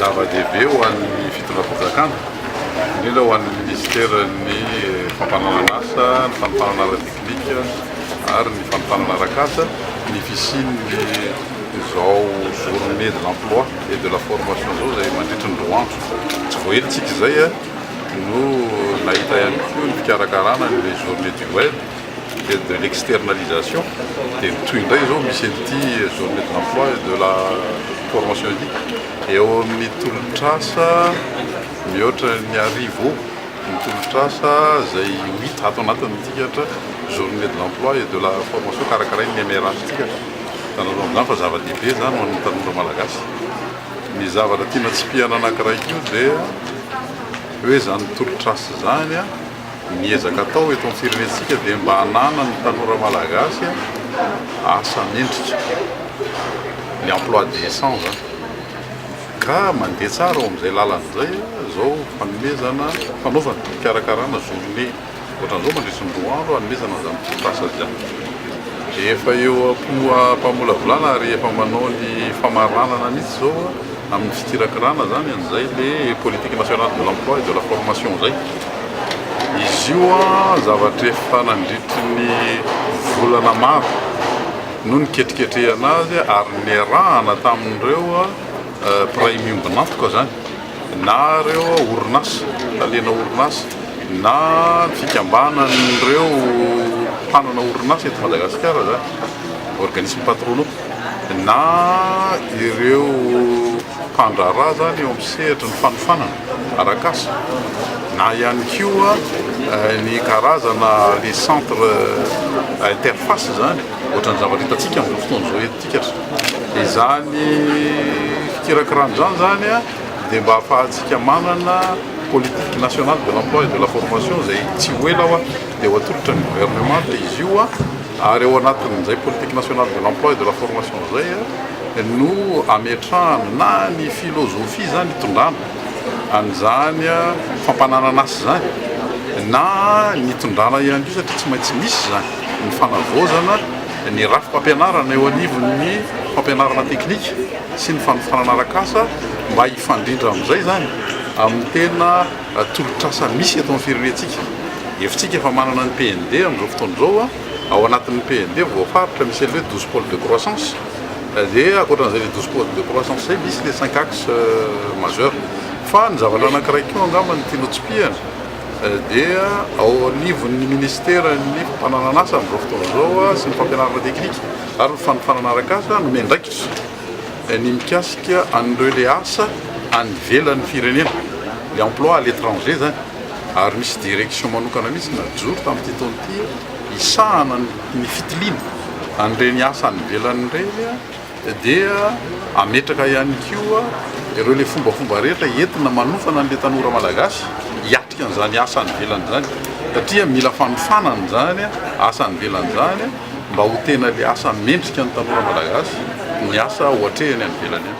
Zava-dehibe ho an'ny fitondram-panjakana, indrindra ho an'ny minisiteran'ny Fampananan'asa, ny fanofanana ara-teknika ary ny fanofanana ara-kasa ny fisian'ny izao journée de l'emploi et de la formation izao izay mandritry ny roa andro. Tsy voaelintsika izay no nahita ihany koa ny fikarakarana an'ilay journée du web. Aide de l'externalisation dia ny toy indray izao misy an'ity journée de l'emploi et de la formation ity. Eo amin'ny tolotr'asa mihoatra ny arivo eo ny tolotr'asa izay ho hita ato anatin'ny tikatra journée de l'emploi et de la formation karakarain'ny MRA-ntsika. Hitanareo amin'izany fa zava-dehibe izany ho an'ny tanora malagasy. Ny zavatra tiana tsipihana anankiray koa dia hoe izany tolotr'asa izany, Ny ezaka atao eto amin'ny firenentsika dia mba hananan'ny tanora malagasy asa mendrika, ny emploi décent izany, ka mandeha tsara ao amin'izay lalana izay izao fanomezana, fanaovana, fikarakarana journée ohatran'izao mandritry ny roa andro hanomezana an'izany tetikasa izany. Efa eo am-po am-pamolavolana ary efa manao ny famaranana mihitsy izao. Amin'ny fikirakirana izany an'izay ilay politique nationale de l'emploi et de la formation izay. Izy io zavatra efa nandritry ny volana maro no niketriketrehana azy ary niarahana tamin'ireo mpiray miombon'antoka izany na ireo orinasa, talena orinasa na fikambanan'ireo mpanana orinasa eto Madagasikara izany, organismes patronaux. na ireo mpandraharaha izany eo amin'ny sehatry ny fanofanana arak'asa na ihany koa ny karazana les centres interface izany, ohatran'ny zavatra hitantsika amin'izao fotoana izao eto antsika ry zareo. Izany fikirakirana izany izany dia mba hahafahantsika manana politique nationale de l'emploi et de la formation izay tsy ho ela dia ho atolotra ny gouvernement dia izy io Ary ao anatin'izay politique nationale de l'emploi et de la formation izay no ametrahana na ny philosophie izany itondrana an'izany fampananan'asa izany na ny itondrana ihany koa satria tsy maintsy misy izany ny fanavaozana ny rafi-pampianarana eo anivon'ny fampianarana teknika sy ny fanofanana arak'asa mba hifandrindra amin'izay izany amin'ny tena Tolotr'asa misy eto amin'ny firenentsika. Hevitsika fa manana ny PND amin'izao fotoana izao, ao anatin'ny PND voafaritra misy an'ilay douze pôles de croissance, dia ankoatran'izay ilay douze pôles de croissance izay misy ilay cinq axes majeurs. Fa ny zavatra anankiray koa angamba no tiana hotsipihana dia ao anivon'ny minisiteran'ny fananan'asa amin'izao fotoana izao sy ny fampianarana teknika ary ny fanofanana arak'asa nomendraikitra, ny mikasika an'ireo le asa any ivelan'ny firenena, le emploi à l'étranger izany, ary misy direction manokana mihitsy najoro tamin'ity taona ity hisahana ny fitiliana an'ireny asa any ivelany ireny, dia hametraka ihany koa ireo le fombafomba rehetra entina manofana an'le tanora malagasy hiatrika an'izany asa any ivelany izany, satria mila fanofanana izany asa any ivelany izany. mba ho tena ilay asa mendrika ny tanora malagasy ny asa ohatrehany any ivelany any.